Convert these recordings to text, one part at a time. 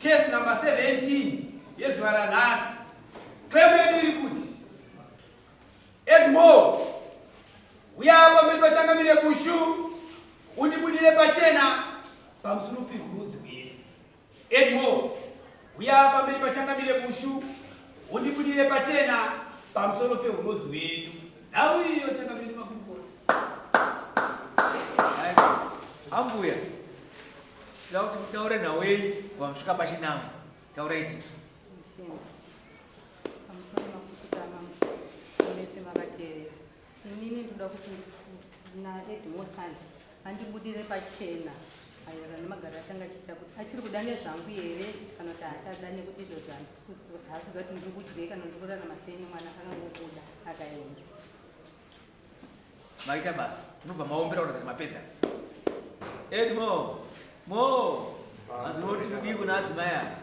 Case number 17 yezuva ranhasi claim yedu iri kuti Edmore uya pamberi pachangamire bushu undibudire pachena pamusuru pehurudzi hwedu Edmore, huya pamberi pachangamire bushu undibudire pachena pamusoro pehurodzi hwedu. Nhau iyo changamire makurukota. Ambuya, tinoda kuti mutaure nhau yenyu pamusvika pachinamo. Taurai titu. Mutemo. Pamusoro makurukota mambo. Mese makateerera. Inini ndoda kuti naEdmore Sande andibudire pachena maererano nemagaro atanga achiita kuti achiri kuda nezvangu here kana kuti haachada nekuti izvozvo haasizwa kuti ndiri kudyei kana ndiri kurarama sei nemwana akangobuda akaenda maita basa munobva maombera kuratidza kuti mapedza edmo mo azinoti kudii kuna adzimai aya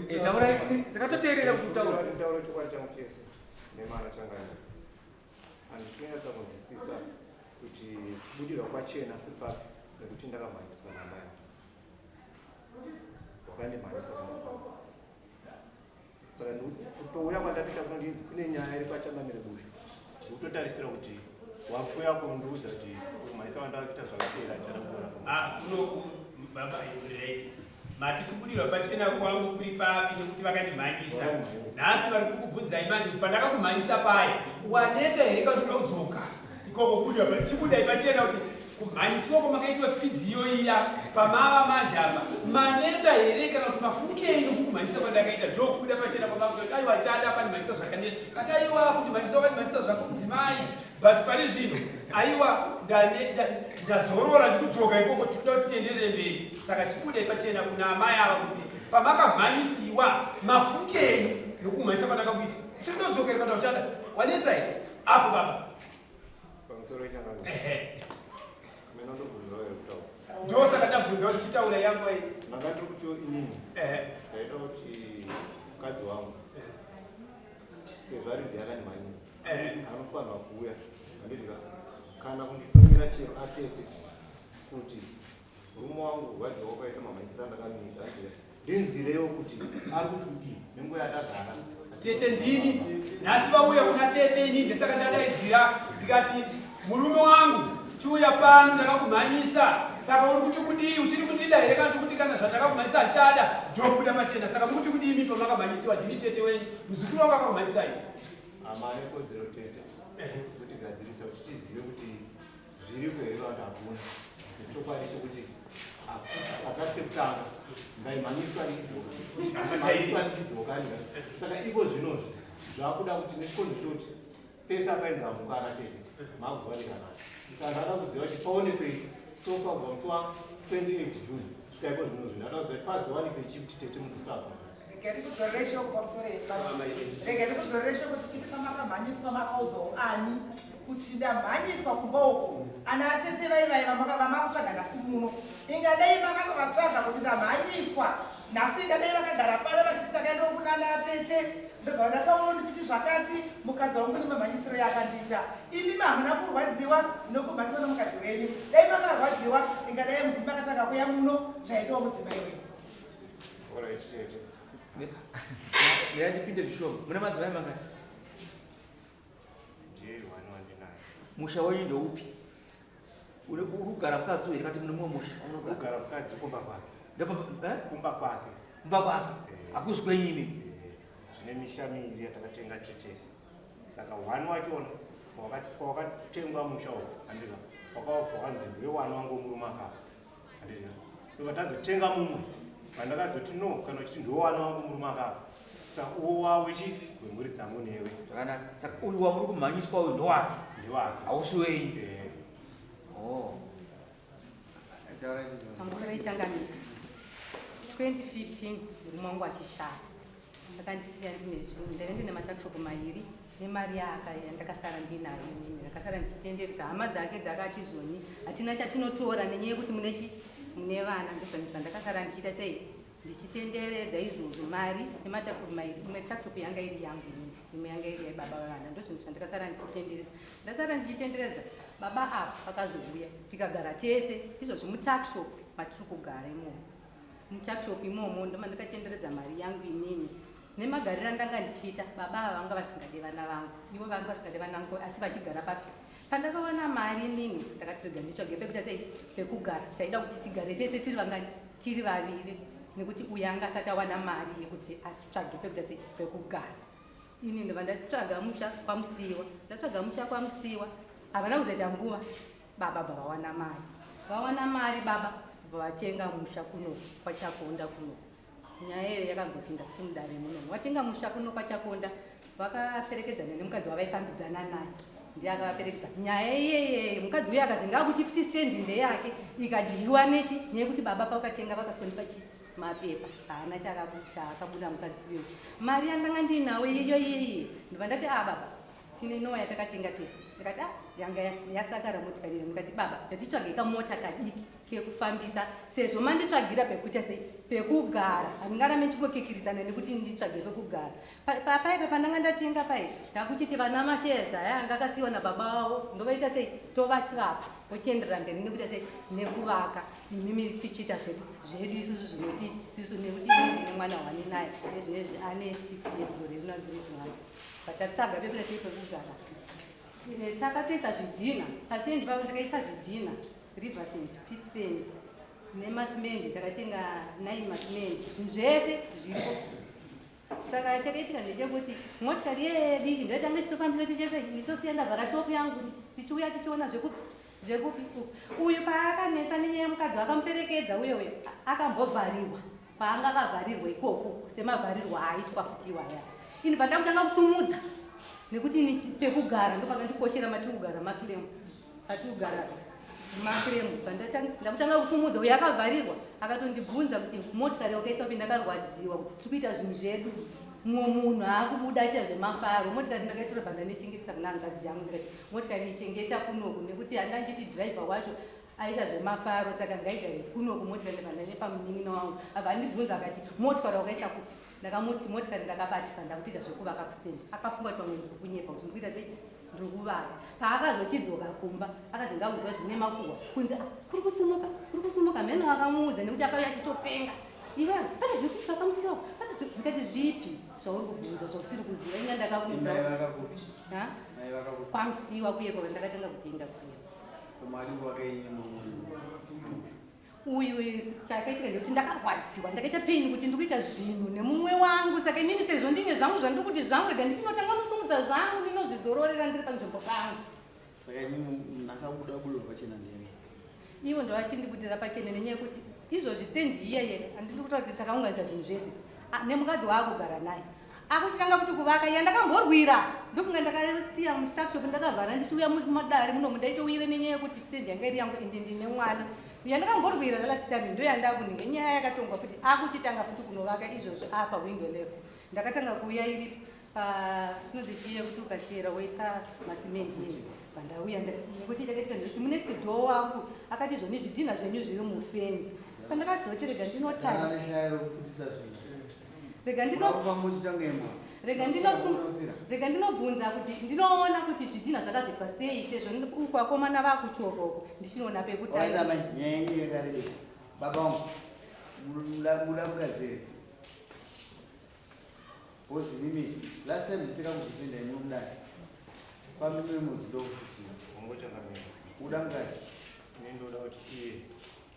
Eh, taura takatoteerera kuti utaura taura chokwadi changu chese nemana changani handisinga tsakunzwisisa kuti kubudirwa kwachena kuri papi nekuti ndakamhanyiswa namai wakandimhanyisa pamapaa saka kutouya kwandabisha kunondinzi kune nyaya iri kwachamamire busha kutotarisira kuti wakuya kundiudza kuti maisa vandavakuita zvakapera chanakura ah, kunoku baba izireki mati kubudirwa pachena kwangu kuri papi nekuti vakandimhanyisa nhasi vari kukubvunzai manje kuti pandakakumhanyisa paye waneta here kakuti unodzoka ikoko kubudirwa chibudai pachena kuti kumhanyiswa kwamakaitwa spidi iyoiya pamava manje apa maneta here kana kuti mafukei nokukumhanyisa kwandakaita ndokubuda pachena kwamaai wachada pandimhanyisa zvakaneta kaka aiwa kundimhanyisa wakandimhanyisa zvako mudzimai but pari zvino aiwa ndazorora ndikudzoka ikoko tikuda kuti tienderere mberi saka chibudai pachena kuna amai ava kuti pamakamhanyisiwa mafukei nokumhanyisa kwandakakuita chindodzokerwa ndauchada waneta here apo baba ndosaka ndabvunza kuti chitaura yangu iyi ndakati kuti inini ndaida kuti mukadzi wangu sezvari ndiakani manyisa anofanirwa kuuya andidika kana kunditumira chero atete kuti Murume wangu vaje wakaita mamaisira ndakamiita anje ndinzwirewo kuti ari kuti kuti nenguva yatagara. Tete ndini nhasi vauya kuna tete ini ndesaka ndadaidzira ndikati murume wangu chiuya pano ndakakumhanyisa saka uri kuti kudii uchiri kundida here kana tikuti kana zvandakakumhanyisa achada ndokuda machena saka mukuti kudii mi pamakamhanyisiwa ndini tete wenyu muzukuru wangu akakumhanyisai amanekodzero tete kuti gadzirise kuti tizive kuti Zviriko here vakavona chokwadi chekuti akati kekutanga ngaimhanyiswa ndidzokani saka iko zvinozvi zvakuda kuti nechikonzo choti pese apainza amuka akatete makuzowanekanaka kana ada kuziva kuti paone pei sofa kubva musi wa 28 june svika iko zvinozvi ndada kuziva kuti pazowanikei chikuti tete mukutsvagwa kuchinda mhanyiswa kumba uko ana atete vai vai vamakutsvaga nhasi muno ingadai makatovatsvaga kuti ndamhanyiswa nhasi ingadai vakagara pano vachiti ndakaenda kunana atete ndobva ndatauro ndichiti zvakati mukadzi wangu nemamhanyisiro yakandiita imi hamuna kurwadziwa nokumhanyiswa nomukadzi wenyu dai makarwadziwa ingadai muti makatanga kuya muno zvaitawo mudzimai wenyu ndipinde zvishoma muna madzimai mangani musha wenyu ndoupi uri kugara mukadzi uyu kati mune mumwe musha unogara mukadzi kumba kwake eh? kumba kwake kumba kwake eh. akuzi kwenyu imi eh, tine misha miviri yatakatenga titese saka one wachona kwawakatengwa musha uwo andika wakaofa wanzi ndiwe wana wangu murume akaka ndobva tazotenga mumwe pandakazoti no kana uchiti ndiwo wana wangu murume akafa saka uwo wawo chi wemhuri dzangu newe kana saka uyu wamuri kumhanyiswa uyu ndowake ndiwake hausi wenyu eh. oh. pamukore ichangani 2015 murume wangu achishaya akandisiya ndine zvinhu ndaive ndine matakshop mairi nemari yaaka yandakasara ndinayo inini ndakasara ndichitenderisa hama dzake dzakati zvoni hatina chatinotora nenyaya yekuti mune chi mune vana ndozvanhu zvandakasara ndichiita sei ndichitenderedza izvozvo mari nematakshop mairi imwe takshop yanga iri yangu inini imwe yanga iri yebaba vevana ndozvinhu zvandakasara ndichitenderesa ndasara ndichitenderedza baba ava vakazouya tikagara tese izvozvi mutakshop matiri kugara imomo mutuckshop imomo ndomandakatenderedza mari yangu inini nemagariro andanga ndichiita baba ava vanga vasingade vana vangu ivo vanga vasingade vanangu asi vachigara papi pandakawana mari inini ndakatirega nditsvage pekuita sei pekugara taida kuti tigare tese tiri vangani tiri vaviri nekuti uyo anga asati awana mari yekuti atsvage pekuita sei pekugara ini ndova ndatsvaga musha kwamusiiwa ndatsvaga musha kwamusiiwa havana kuzoita nguva baba bva vawana mari vawana mari baba bva vatenga musha kuno kwachakonda kuno nyaya iyo yakangopinda kuti mudare muno watenga musha kuno kwachakonda vakaperekedzana nemukadzi wavaifambidzana naye ndiye akavaperekedza nyaya iyeyeye mukadzi uye akazi ngakuti futi stendi ndeyake ikadyiwa nechi nyaya yekuti baba pavakatenga vakasondipa chii mapepa haana chaakabuda mukadzi uyo mari yandanga ndiinawo iyo iyeyi ndobva ndati a ah, baba tine nowa yatakatenga tese ndikati ah, yanga yasakara motikari iyo ndikati baba ndatitsvage kamota kadiki kekufambisa sezvo manditsvagira pekuita sei pekugara handingarame chingokikiridzana nekuti nditsvage pekugara papaipa pandanga ndatenga pai ndakuchiti vana masheza aya anga akasiyiwa nababa vavo ndovaita sei tovachivapa vochienderera mberi nekuita sei nekuvaka imimi tichiita zvedu zvedu isusu zvinoti isusu nekuti nemwana hwani naye ezvinezvi ane six years gore rinoa Takatsvaga pekuda tei pekugara. Eh, takatoisa zvidhina pasendi pavo takaisa zvidhina river sand pit sand nemasimendi takatenga nine masimendi zvinhu zvese zviripo saka chakaitika ndechekuti motikari yediki ndoitanga tichitofambisa tichese ndichitosiya ndavhara shopu yangu tichiuya tichiona zvekupi zvekupi uyu paakanetsa nenyaya yemukadzi wakamuperekedza uye uyo akambovharirwa paanga akavharirwa ikoko semavharirwa aaitwa futi iwaya ini pandakutanga kusumudza nekuti ini pekugara ndopakandikoshera matiri kugara makiremu patiri kugara makiremu ndakutanga kusumudza uyo akavharirwa akatondibvunza kuti motikari wakaisa upi ndakarwadziwa kuti tiri kuita zvinhu zvedu mumwe munhu aakubuda achita zvemafaro motikari ndakaitora banda nechengetesa kuna hanzvadzi yangu ndikati motikari ichengeta kunoku nekuti handanditi driver wacho aita zvemafaro saka ngaigare kuno kumotikari ndikanda nepamunin'ina wangu abva andibvunza akati motikari wakaisa kupi ndakamuti motikari ndakabatisa ndakutoita zvekuvaka kustendi akafunga kuti pamwe ndiri kunyepa kuti ndikuita sei ndiri kuvaka paakazochidzoka kumba akazi ndaudzwa zvine makuhwa kunzi ah, kuri kusumuka kuri kusumuka mheno akamuudza nekuti akauya achitopenga iwe pane zviri kuitika pamusiwo pane ndikati zvipi zvauri kubvunza zvausiri kuziva inga ndakakuuza kwamusiwa kuye kwava ndakatanga kutenga kuye uyu chakaitika ndekuti ndakarwadziwa ndakaita pain kuti ndikuita zvinhu nemumwe wangu saka inini sezvo ndine zvangu zvandiri kuti zvangu rega ndichinotanga kusumudza zvangu ndinozvizororera ndiri panzvimbo pangu saka inini ndasakuda kubudirwa pachena ndene ivo ndovachindibudira pachena nenyaya yekuti izvozvi stendi iyeye andiri kutoa kuti takaunganidza zvinhu zvese ah, nemukadzi waakugara naye akuchitanga kuti kuvaka iya ndakamborwira ndofunga ndakasiya mustructup ndakavhara ndichiuya mumadare muno mundaitouyire nenyaya yekuti stand yanga iri yangu ende ndine mwana iya ndakamborwira last time ndoyandakunenge nyaya yakatongwa kuti akuchitanga futi kunovaka izvozvo apa window level ndakatanga kuuya iri panozichiye kuti ukachera woisa masimendi ii pandauya nekuti ndakaitika ndikuti munext door wangu akati zvoni zvidhinha zvenyu zviri mufenzi pandakaziva chirega ndinotarisa rega rega ndinobvunza kuti ndinoona kuti zvidhina zvakazoitwa sei sezvo uku vakomana vakuchovha uku ndichinoona pekutaiabaamudamukazere bhozi mimi last time zvitika kuzvipinda imwe kudai pamimwe mudzido kuti uda mukadzi ndoda kuti iye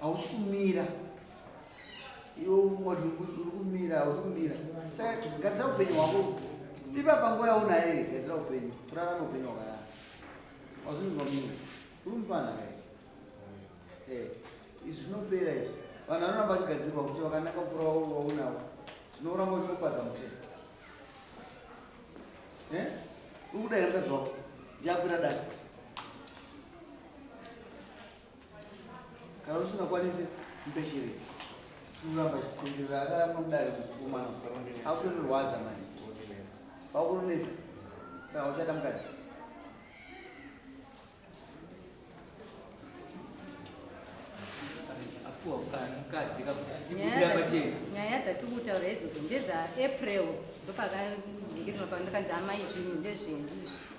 hausi kumira iwe uri kumira hausi kumira saka gadzira upenyu hwako ipapa nguva yaunayo gadzira upenyu kurarama upenyu hwakanaka hausi kumira uri mupana ka eh, izvi zvinopera izvi vanhu vanoramba vachigadzirwa kuti vakanaka mukura waunawo zvinoramba uchimupaza mutee eh? ukuda here mukadzi wako ndiakwira dai Kana usingakwanisi mpeshere kuramba chitenderera akaramudare kukomana akutorirwadza manje vakuronesa saka uchada mukadzi nyaya dzatiri kutaura idzodzo ndedza april ndopakaeekanzi amai zvinhu ndezvenyu izvi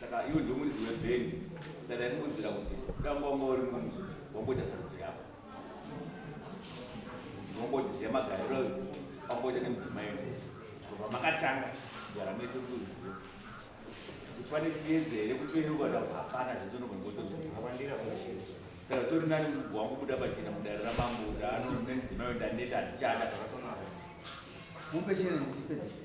saka iwe ndiwe muridzi webhendi saka ndaikuudzira kuti damba wanga uri munhu wamboita sarudzo yako ndongotiziva magariro amboita nemudzimai kubva makatanga kugara mese kuziva kuti pane chiedza here kutoyeuka ta hapana zvese unogongotoavandira saka zvitori nani mugu wangu kuda pachena mudare ramambo kuti ano nemudzimai ndaneta handichada mupeshere ndichipedzei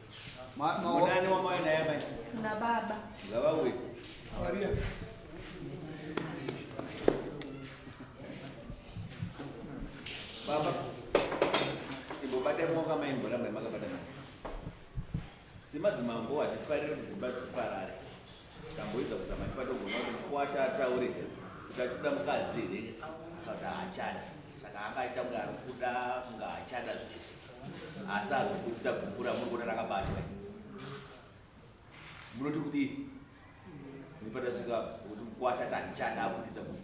Munani wamai naye amai. Na baba. Baba uyu. Maria. Baba. Ibo bate moka mai mbola mai makabata mai. Simadzimambo hatifarire kudzimba dziparare. Tamboedza kuzama tipadogona kuti mkwasha ataure kuti achikuda mukadzi here saka haachada saka angaita kunge ari kuda kunge haachada zvese asi azokudisa gupura muri kuona rakabatwa munoti kudii ndipata svika kuti mkwasha tandichada akudisa gupura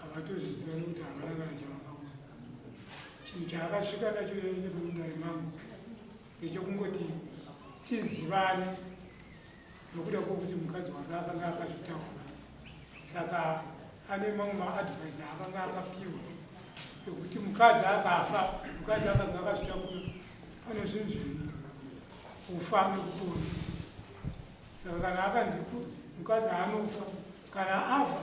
Havatozviziva nekuti havana kana chavakaona. Chinhu chaakasvika nacho mudare mangu ndechekungoti tizivane nokuda kwokuti mukadzi wake akanga akazvitaura. Saka ane mamwe maadvise akanga akapiwa ekuti mukadzi akafa mukadzi akanga akazvitakura pane zvinhu zviviri kufa nekupona saka kana akanzi mukadzi anofa kana afa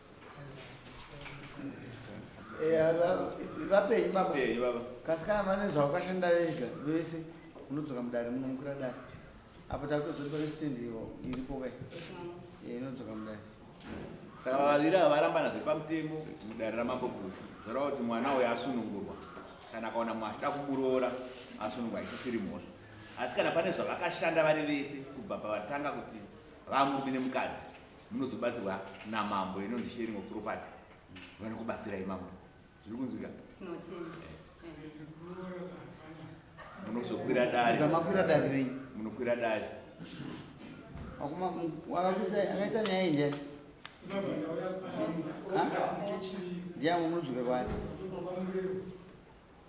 vapenyu eh, baba eh, kasi kana vane zvavakashanda vega vese unodzoka mudare munomukira dare apo takutozoti pane stand iripo kai eh, inodzoka mudare saka vaviri ava varambana zviri pamutemo mudare ramambo gushu zvoreva kuti mwana uyo asunungurwa kana akaona mwana achida kumuroora asunungwa isisiri mhosva asi kana pane zvavakashanda vari vese kubva pavatanga kuti vamurume nemukadzi munozobatsirwa namambo inonzi sharing of property vanokubatsirai mambo zviri kunzwika munozokwira darimakwira dari rei munokwira dari akaita nyaya inje ndiyamunodzwika kwani